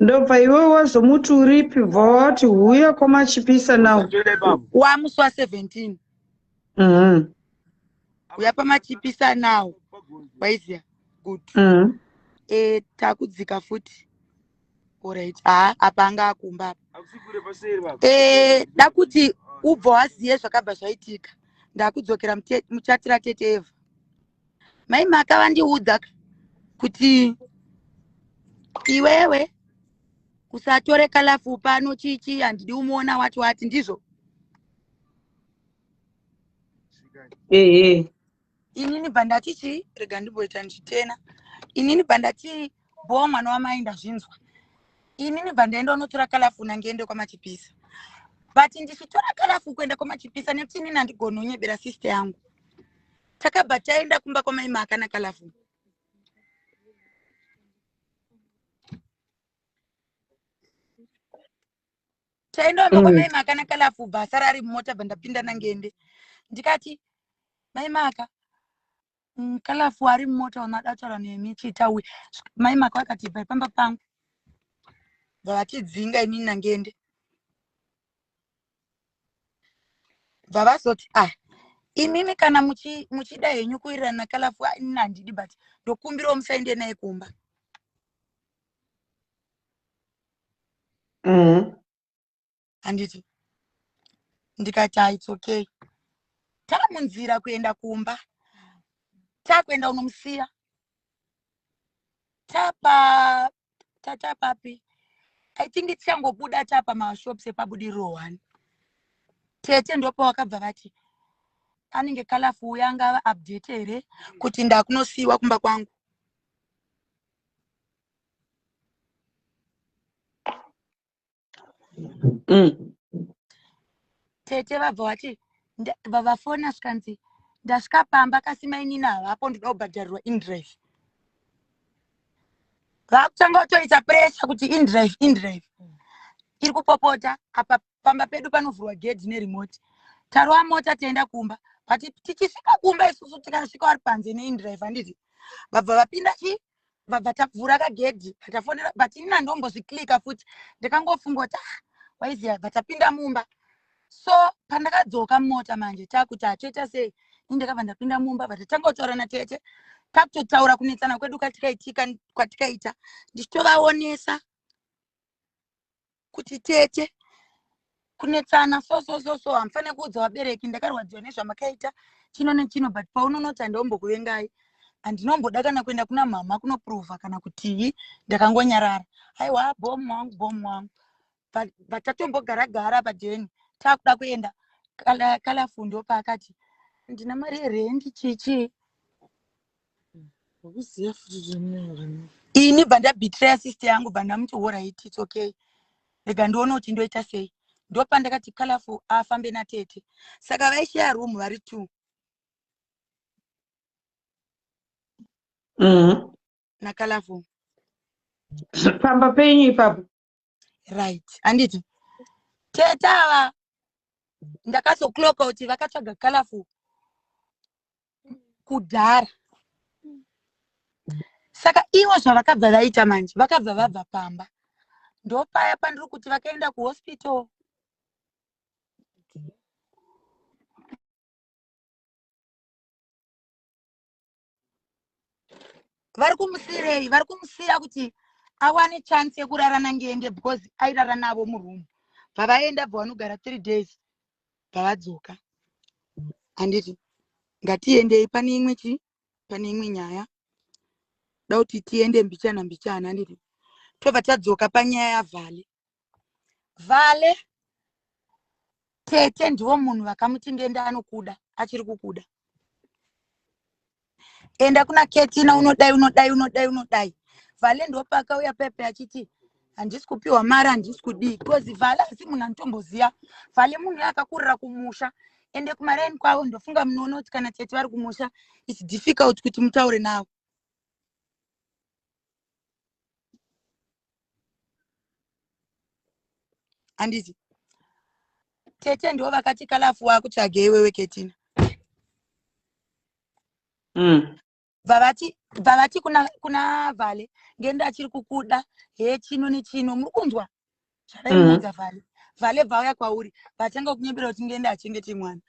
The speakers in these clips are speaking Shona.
ndobva iwe wazomuti uripi bva wati huya kwamachipisa now wamuswa 17 mm-hmm. huya pamachipisa now waiziya good mm-hmm. e takudzika futi orit haa apa anga akumba apa e da kuti ubva waziye zvakabva zvaitika ndakudzokera muchatira tete eva mai maka vandiudza kuti iwewe usatore kalafu pano chichi handidi umuona wati wati ndizvo ehe inini bva ndati chii rega ndimboita ndichitena inini bva ndati bhowa mwana wamai ndazvinzwa inini bva ndaenda unotora kalafu nangiende kwamachipisa but ndichitora kalafu kuenda kwamachipisa nekuti inini handigoni unyebera sister yangu takabva taenda kumba kwamai maakana kalafu taenda kumba kwamai mm. maakana kalafu bva asara ari mumota bva ndapinda nangende ndikati mai maka mm, kalafu ari mumota wamada kutaura nemi chitawi mai maka vakati bva pamba pangu bva vatidzinga imini nangende bva vazoti ah imimi kana muchida henyu kuwirirana kalafu inini handidi but ndokumbirawo musaende naye kumba mm-hmm. handiti mm -hmm ndikati its okay tava munzira kuenda kumba takuenda unomusiya tapa Tata papi? I think tichangobuda tapa mashops epabudiriro one. Tete ndopa wakabva vati anenge kalafu uya angava update here kuti ndakunosiiwa kumba kwangu. mm. tete vabva vati vavafona zvikanzi ndasvika pamba kasi mainini havapo ndoda kubhadharirwa indrive vakutanga kutoita pressure kuti indrive indrive iri kupopota apa pamba pedu panovhurwa gedhi neremote tarova mota tienda kumba but tichisvika kumba isusu tikasvika vari panze neindrive handiti vabva vapinda chii vabva tavhura kagedhi tafonera but ini nandombozviklika futi ndikangofunga kuti ah, waiziva bva tapinda mumba so pandakadzoka mota manje takuti hatoita sei ini ndakabva ndapinda mumba but tatanga kutaura natete takutotaura kunetsana kwedu kwatikaitika kwatikaita ndichitovaonesa kuti tete kunetsana so so so so hamufane kuudza vabereki ndakarwadziwa nezvamakaita chino nechino but paunonoti handiombokuvengai handinomboda kana kuenda kuna mhama kunoprova kana kutii ndakangonyarara aiwa bom wangu bom wangu but tatombogara gara padeni takuda kuenda kalafundo paakati ndina mari yerendi chichii Ukuziya futi kuti ndinoyora nei. ini bva ndabetraya sister yangu bva ndamuti horit its okay rega ndione kuti ndoita sei ndopandakati colorful afambe natete saka vaishaya room vari two Mhm. nacolorful pamba penyu ipapo right handiti tete ava ndakazokloka kuti vakatsvaga colorful kudhara saka ivo zvavakabva vaita manje vakabva vabva pamba ndopaya pandiri kuti vakaenda kuhospital vari kumusiirei vari kumusiira kuti awane chance yekurara nangeende because airara navo muroom bvavaenda bva vanogara three days bvavadzoka handiti ngatiendei pane imwe chi pane imwe nyaya da kuti tiende mbichana mbichana handiti tobva tadzoka panyaya yavhale vale tete ndivo munhu vakamuti ndiende anokuda achiri kukuda enda kuna ketina unodai unodai unodai unodai vale ndopakauya pepe achiti handisi kupiwa mari handisi kudii because vale asi munhu anotomboziva vale munhu yakakurira kumusha ende kumaraini kwavo ndofunga munoona kuti kana tete vari kumusha its difficult kuti mutaure navo handiti tete ndivo vakati kalafu wakutsvage iwewe ketina mm. vavati vavati kuna, kuna vale ngenda achiri kukuda he chino nechino muri kunzwa zvadaimuudza vale vale vauya kwauri vatanga kunyembera kuti ndiende achengete mwana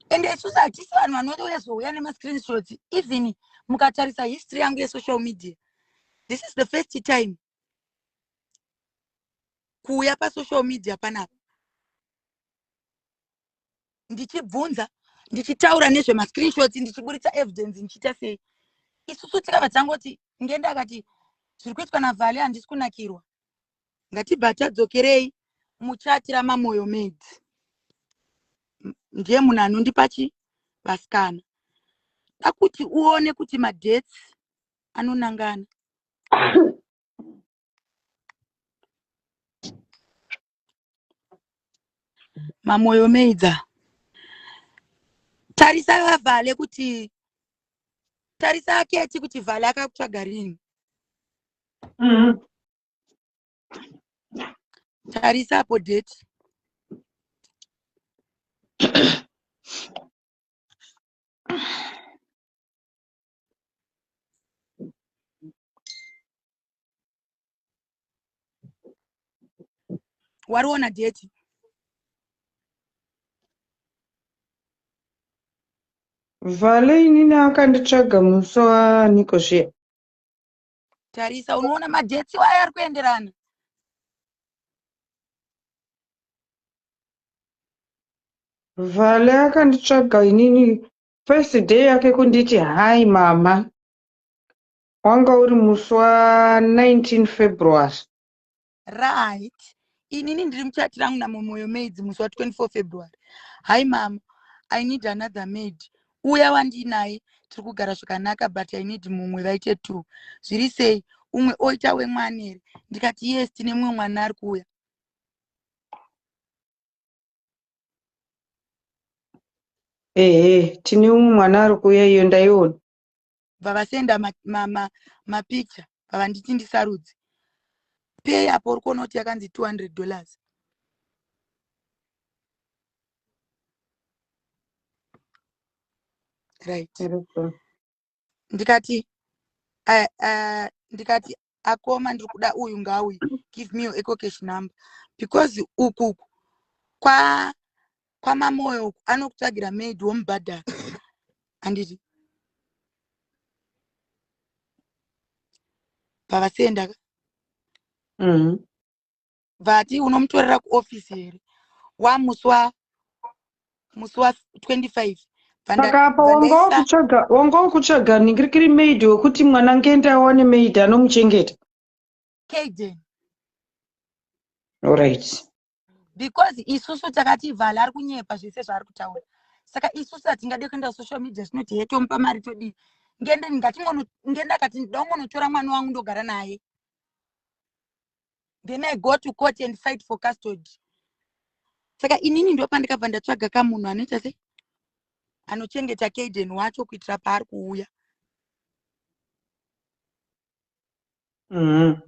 and isusu hatisi vanhu vanoti uyazouya nemascreenshots even mukatarisa history yangu yesocial media this is the first time kuuya pasocial media panapa ndichibvunza ndichitaura nezvemascreenshots ndichiburitsa evidence ndichiita sei isusu tikabva tangoti ngenda akati zviri kuitwa navhale handisi kunakirwa ngatibva tadzokerei muchati ramamoyo made ndiye munhu anondipa chi vasikana da kuti uone kuti madhets anonangana mamoyo meidza tarisa vavhale kuti tarisa aketi kuti vhale akakutsvaga rini mm -hmm. tarisa apo date wariona deti vhale inini akanditsvaga musi waaniko zviya tarisa unoona madeti wayo ari kuenderana vhale akanditsvaga inini First day yake kunditi hi mama wanga uri musi wa 19 February. Right. Inini ndiri muchati rangu naMomoyo Maids musi wa 24 February. Hi mama, I need another maid. Uya wandinaye tiri kugara zvakanaka but I need mumwe vaite two. Zviri sei? Umwe oita wemwana here? Ndikati yes tine mumwe mwana ari kuuya. ehe tine umwe mwana ari kuuya iyo ndaiona bva vasenda mapicha bva vanditi ndisarudzi pay apo uri kuona kuti yakanzi 200 dollars right ndikati uh, uh, ndikati akoma ndiri kuda uyu ngauyu give me your ecocash number because uku kwa kwamamoyo uku anokutsvagira maid womubhadhara handiti pavasiyendaka mm -hmm. vati unomutorera kuoffice here wamusi wa musi wa 25 saka apa wanga ukutsvaga ningirikiri maid wekuti mwana ngende awane maid anomuchengeta kaden orit because isusu takati vhala ari kunyepa zvese zvaari kutaura saka isusu hatingade kuenda kusocial media zvinoti he tomupa mari todii ngende ndingatingende akati ndida kungonotora mwana wangu ndogara naye then i go to court and fight for custody saka inini ndopandikabva ndatsvaga kamunhu anoita sei anochengeta kaden wacho kuitira paari kuuya mm-hmm.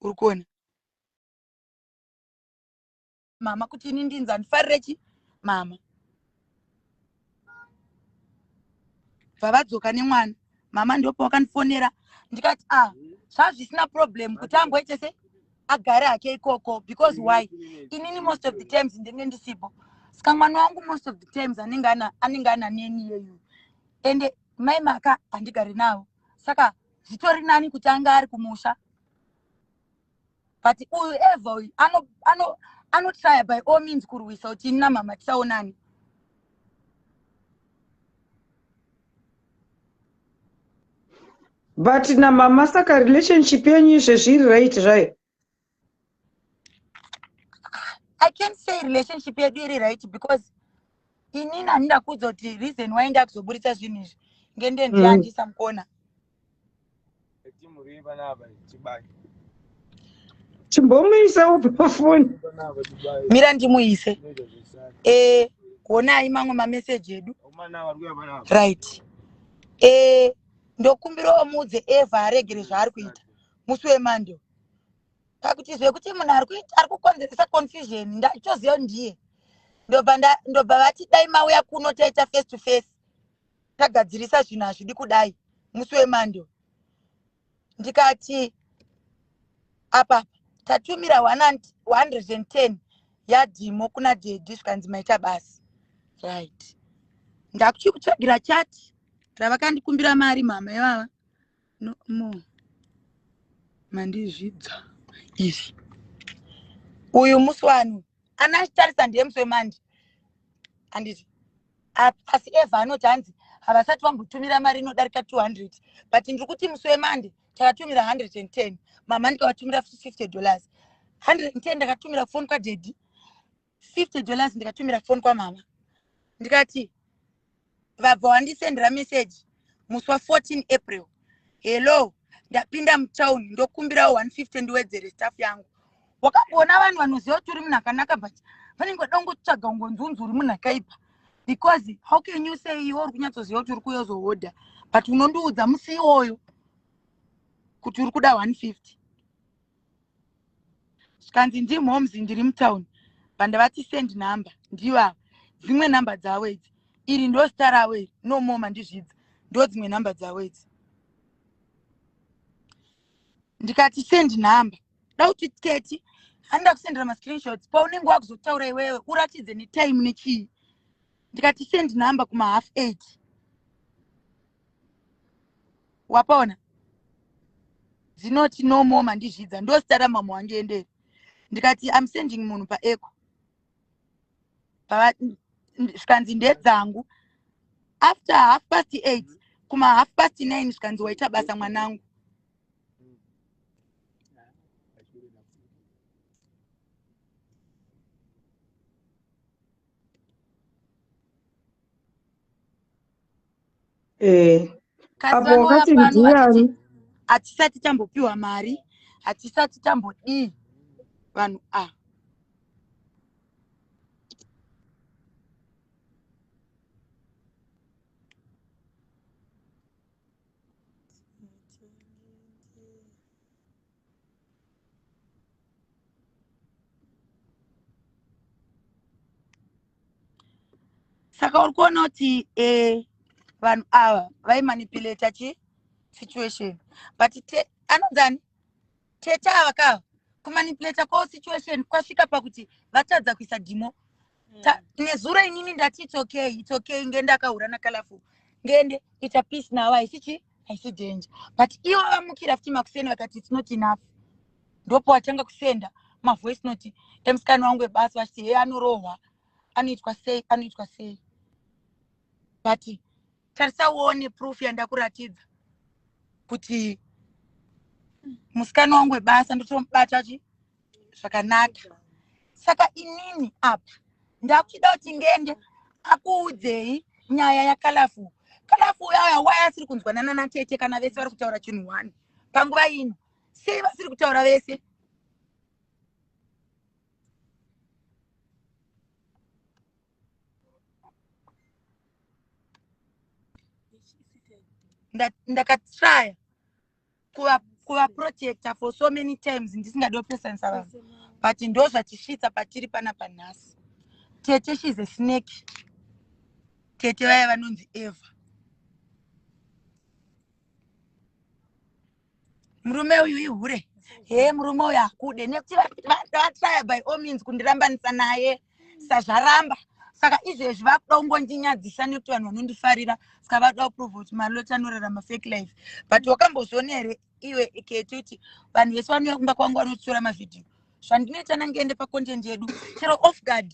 uri kuona mama kuti ini ndinzi andifarire chi mama bvavadzoka nemwana mama ndopa wakandifonera ndikati a ah, zvazvisina problem kuti amboite se agare hake ikoko because why inini most of the times ndinge ndisipo saka mwana wangu most of the times anenge ana anenge ana neni yeyu ende mai maka handigari navo saka zvitori nani kuti anga ari kumusha but uyu eva uyu ano ano anotraya by all means kurwisa kuti ini namama tisaonani but namama saka relationship yenyu izvezvi iri right zvayo i can't say relationship yedu iri right because inini handida kuudza kuti reason why ndakuzoburitsa zvinhu izvi ngendendiandisa mm. mukona chimbomuisawo pafoni mira ndimuise e honai mamwe mameseji edu right e ndokumbirawo muudze eva aregere zvaari kuita musi wemando pakuti zvekuti munhu ari kuita ari kukonzeresa confusion ndachoziva ndiye ndobva vati dai mauya kuno taita face to face tagadzirisa zvinhu hazvidi kudai musi wemando ndikati apapa tatumira 110 yadhimo kuna dhedhi zvikanzi maita basi right ndakuchi kutsvagira chati ravakandikumbira mari mhama ivava no more mandizvidza izvi uyu musi wanu kana achitarisa ndiye musi wemandi handiti asi eva anoti hanzi havasati vambotumira mari inodarika 200 but ndiri kuti musi wemandi takatumira 110 mama ndikavatumira 50 dollars 110 ndakatumira foni kwadhedhi 50 dollars ndikatumira foni kwamama ndikati vabva wandisendera meseji musi wa 14 april hello ndapinda mutown ndokumbirawo 150 ndiwedzere staff yangu wakamboona vanhu vanoziva kuti uri munhu akanaka but vanenge vada kungotsvaga ungonzi unzi uri munhu akaipa because how can you say iwe uri kunyatsoziva kuti uri kuuya uzohodha but unondiudza musi iwoyo kuti uri kuda 150 zvikanzi ndi moms ndiri mutown pandavati send number ndivo ava dzimwe number dzavo idzi iri ndo zita ravo iri no more mandizvidza ndo dzimwe number dzavo idzi ndikati send number da kuti teti handa kusendera mascreenshots paunenge wakuzotaura iwewe uratidze netime nechii ndikati send number kumahalf eight wapona dzinoti no more mandizvidza ndosita ramama wange enderi ndikati im sending munhu paeco zvikanzi ndedzangu after half past eight kuma half past nine zvikanzi waita basa mwanangu eh apo wakati ndiani hatisati tambopiwa mari hatisati tambodii vanhu a ah. saka uri kuona kuti eh, vanhu ava vaimanipulata chi situation but anonzani tete ava ka kumanipulata kwao situation kwasvika pakuti vatadza kuisa dhimo Ta- nezuro inini ndati it's okay it's okay nge ndakahura nacolorful ngende ita peace navo haisi chi haisi danger but ivo vamukira futi makuseni vakati it's not enough ndopo watanga kusenda mavoice note emusikana wangu webasa vachiti heye anorohwa anoitwa sei anoitwa sei but tarisa uone proof yandakuratidza kuti musikana wangu webasa ndotomubata chi zvakanaka saka inini apa ndakuchida kuti ngende akuudzei nyaya yakalafu kalafu yaya wai asiri kunzwa nanana tete kana vese vari kutaura chinhu one panguva ino sei vasiri kutaura vese ndakatraya kuva kuva protector for so many times ndisingadi opesanisa vanhu but ndo zvatisvitsa patiri pana panhasi tete she's a snake tete vaya vanonzi eva murume uyu ihure hee murume uyu hakude nekuti vatraya by all means kundirambanisa naye sa zvaramba saka izvezvi vakuda kungondinyadzisa nekuti vanhu vanondifarira saka vakuda kuprova kuti maloti anorarama fake life but wakambozviona here iwe keti kuti vanhu vese vanouya kumba kwangu vanotora mavhidhiyo zvandinoita nangeende pacontent yedu chero off guard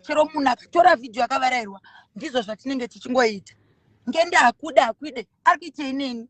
chero munhu akatora vhidhiyo akavarairwa ndizvo zvatinenge tichingoita ngende hakude hakude ari kuitei neni